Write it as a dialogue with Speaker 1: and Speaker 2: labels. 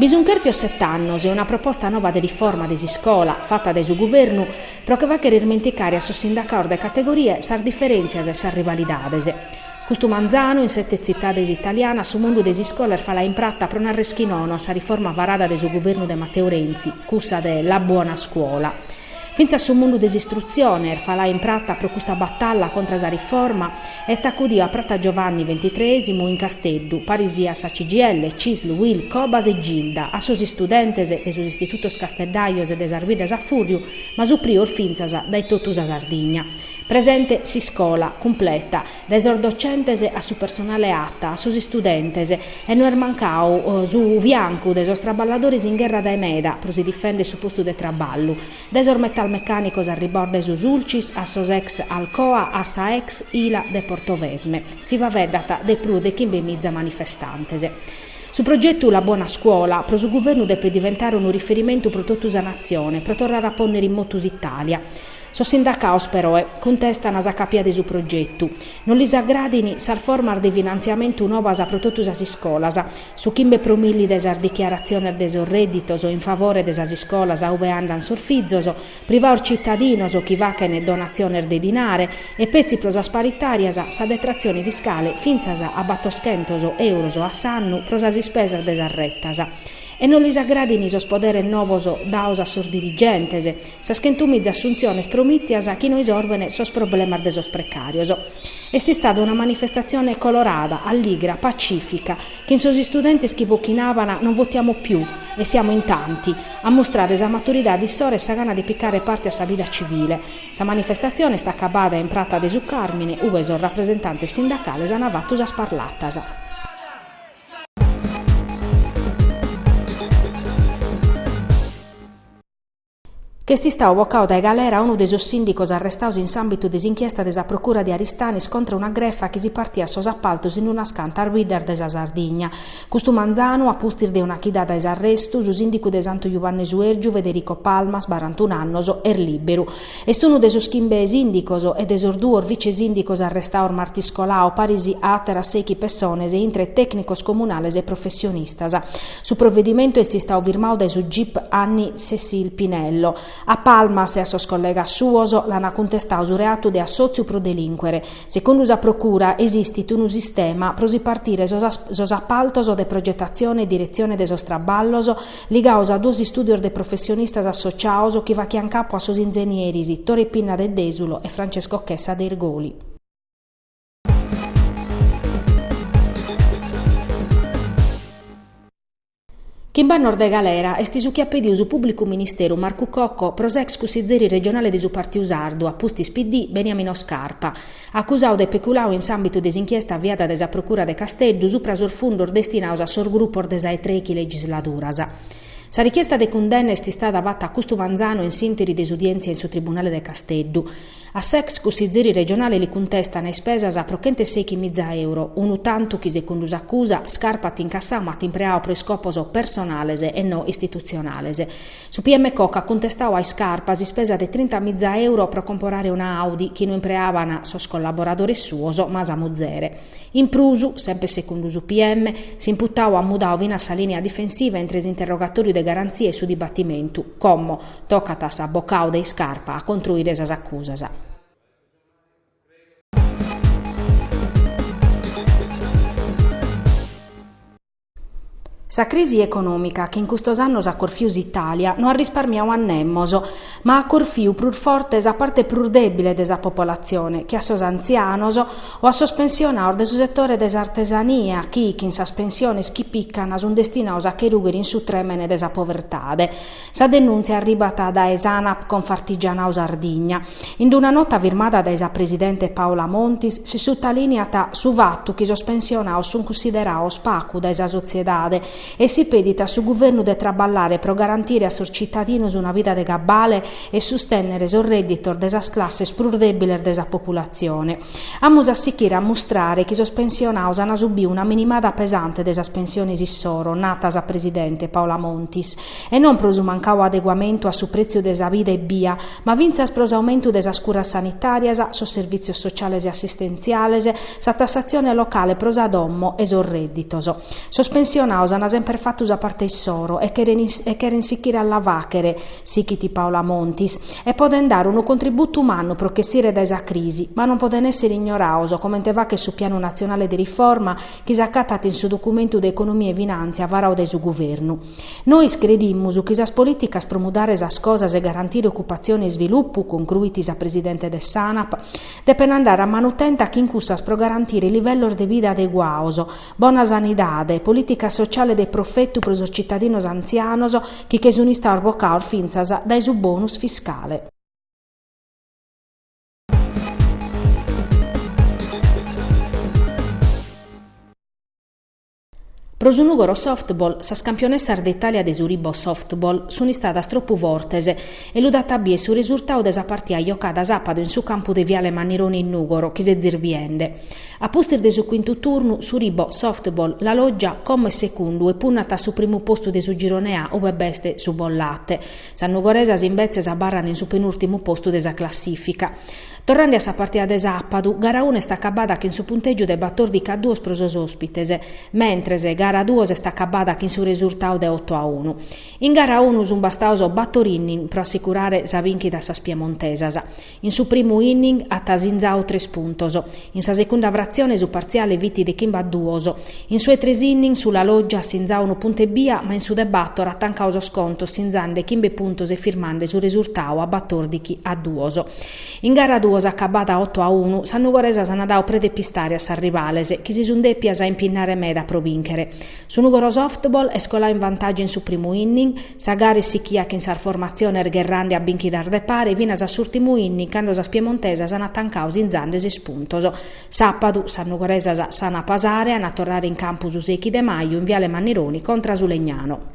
Speaker 1: Bi sunt chèrfios sete annos e una proposta nova de riforma de s'iscola, fata dae su guvernu, pro che fàchere irmenticare a sos sindacados de categoria sas diferèntzias e sas rivalidades. Custu manzanu, in sete tzitades italianas, su mundu de s'iscola est falau in prata pro nàrrer chi nono a sa riforma varada dae su guvernu de Mateu Renzi, cussa de La Buona Scuola. Fintzas su mundu de s'istrutzione, est falau in prata pro custa batalla contra sa riforma, est acudiu a Prata Giovanni Ventitreisimu in Casteddu, paris siat sa CGIL, Cisl, Uil, Cobas e Gilda, a sos istudentes de sos istitutos casteddajos e de sas biddas a fùrriu, ma suprior fintzas dae totu sa Sardigna. Presente s'iscola cumpleta. dae sos docentes a su personale ATA a sos istudentes, e no est mancau su fiancu de sos traballadores in gherra dae meda pro si difèndere su postu de traballu, dae sos metalmecànicos arribaos dae su Sulcis a sos ex Alcoa a sa ex Ila de Portovesme, si faveddat de prus de chimbemiza manifestantes. Su progetu La Buona Scuola pro su guvernu depet diventare unu riferimentu pro totu sa natzione pro torrare a pònnere in motu s'Itàlia. Sos sindacaos peroe cuntestan sa capia de su progetu. Non lis agradan sas formas de finantziamentu nobas pro totu sas iscolas, su chimbe pro milli de sas dichiaratziones de sos rèditos in favore de sas iscolas ube andan sos fizos, privaos citadinos chi fachen donatziones de dinare e petzi pro sas paritàrias sa detratzione fiscale fintzas a batoschentos euros a s'annu pro sas ispesas de sas retas. E non lis agradan sos poderes nobos daos a sos dirigentes, Sas chentumiza assuntziones promìtias chi no isorben sos problemas de sos precàrios. Est istada una manifestatzione colorada, alligra, pacìfica, chin sos istudentes chi bochinaban Non votiamo più e siamo in tanti, a mustrare sa maturidade issoro e sa gana de picare parte a sa vida civile. Sa manifestatzione est acabada in Prata de su Càrmine, ube sos rapresentantes sindacales ant fatu sas parlatas. Ch'est istau bocau dae galera unu de sos sìndicos arrestaos in s'àmbitu de s'inchiesta de sa Procura de Aristanis contra una grefa chi si partiat sos apartos in unas cantas biddas de sa Sardigna. Custu manzanu, a pustis de una chida dae s'arrestu, su sìndicu de Santu Juanne Suèrgiu, Federico Palmas, barantunu annos, est lìberu. Est unu de sos chimbe sìndicos e de sos duos vice-sìndicos arrestaos martis colau, paris a àteras sechi pessones, intre tècnicos comunales e professionistas. Su provedimentu est istau firmau dae su gip Annie Cécile Pinello. A Palmas e a sos collegas suos l'ant cuntestau su reatu de assòtziu pro delìncuere. Secundu sa procura, esistit unu sistema pro si partire sos apartos de progetatzione e diretzione de sos traballos ligaos a duos istùdios de professionistas associaos chi fachiant capu a sos ingenieres Tore Pinna de Desulo e Francesco Chessa de Irgoli. Chimb'annos de galera est su chi at pediu su Pùblicu Ministeru Marcu Cocco pro s'ex cussizeri regionale de su Partiu Sardu, a pustis PD, Beniamino Scarpa, acusadu de peculadu in s'àmbitu de s'inchiesta aviada dae sa Procura de Casteddu supra sos fundos destinados a sos grupos de sa 'e trèchi legisladuras. Sa richiesta de cundenna est istada fata custu manzanu in s'ìnteri de s'udièntzia in su Tribunale de Casteddu. A s'ex cussizeri regionale li cuntestan ispesas pro chentu e sèichi miza euro, unu tantu chi segundu s'acusa, Scarpa at incassau ma at impreau pro iscopos personales e no istitutzionales. Su PM Cocco at cuntestau a Iscarpa s'ispesa de trinta miza euro pro comporare una Audi chi no impreaban sos collaboradores suos ma sa muzere. In prus, semper segundu su PM, s'imputau at mudau finas sa lìnia difensiva intre s'interrogatòriu de garantzia e su dibatimentu, como, tocat a s'abocadu de Iscarpa a contruire sas acusas. Sa crisi econòmica chi in custos annos at corfiu s'Itàlia no at risparmiadu a nemos, ma at corfiu prus forte sa parte prus dèbile de sa popolatzione, che a sos antzianos o a sos pensionados de su setore de s'artesania chi, chin sas pensiones chi pican, sunt destinados a che rugher in su trèmene de sa povertade. Sa denùntzia arribat dae s'Anap Confartigianau Sardigna. In una nota firmada dae sa presidente Paola Montis si sutalìniat su fatu chi sos pensionados sunt cunsiderados pagu dae sa sotziedade e si pedit a su guvernu de traballare pro garantire a sos tzitadinos una vida de cabale e sustènnere sos rèdditos de sas classes prus dèbiles de sa populatzione. Amus a sichire a mustrare chi sos pensionados an subiu una minimada pesante de sas pensiones issoro, nat sa presidente, Paola Montis, e non pro su mancadu adeguamentu a su pretziu de sa vida ebbia, ma fintzas pro s'aumentu de sas curas sanitàrias, sos servìtzios sociales e assistentziales, sa tassatzione locale pro sa domo e sos rèdditos. Sos pensionados an semper fatu sa parte issoro e cheren sichire a la fàghere, sighit Paola Montis, e podent dare unu contributu mannu pro ch'essire dae sa crisi, ma non podent èssere ignorados, comente faghet su Pianu natzionale de riforma chi s'acatat in su documentu de economia e finàntzia varadu dae su Guvernu. Nois credimus chi sas polìticas pro mudare sas cosas e garantire ocupatzione e isvilupu, concluit sa presidente de s'Anap, depent andare a manu tenta chin cussas pro garantire livellos de vida adeguados, bona sanidade, polìticas sociales de profetu pro sos tzitadinos antzianos, chi che sun istados bocados fintzas dae su bonus fiscale. Pro su Nùgoro Softball, sas campionessas de Itàlia de su Rhibo Softball sun istadas tropu fortes e lu dat a bier su resurtadu de sa partida jocada sàpadu in su campu de Viale Mannironi in Nùgoro chi sezis biende. A pustis de su cuintu turnu, su Rhibo Softball La Loggia como est segundu e punnat a su primu postu de su Girone A ue b'est su Bollate. Sas nugoresas imbetzes abarrant in su penùrtimu postu de sa classìfica. Torrande a sa partida de sàpadu, gara unu est acabada chin su puntègiu de batòrdichi a duos pro sos òspites, mentres gara duos est acabada chin su resurtadu de oto a unu. In gara unu sunt bastados bator inning pro assicurare sa bìnchida a sas piemontesas. In su primu inning at sinzadu tres puntos, in sa segunda fratzione su partziale fit de chimbe a duos. In su 'e tres inning su La Loggia at sinzadu unu puntu ebbia ma in su de bator at tancadu sos contos sinzande chimbe puntos e firmande su resurtadu a batòrdighi a duos. In gara duos acabada oto a unu sas nugoresas ant dadu preda 'e pistare a sas rivales chi si sun dèpias impinnare meda pro bìnchere. Su Nùgoro Softball est coladu in vantàgiu in su primu inning, sa gara est sichia chin sas formatziones gherrande a bìnchidas de pare finas a s'ùrtimu inning cando sas piemontesas ant tancadu sinzande ses puntos. Sàpadu, sas nugoresas s'ant a pasare, ant a torrare in campu su sechi de maju in Viale Mannironi contra su Legnano.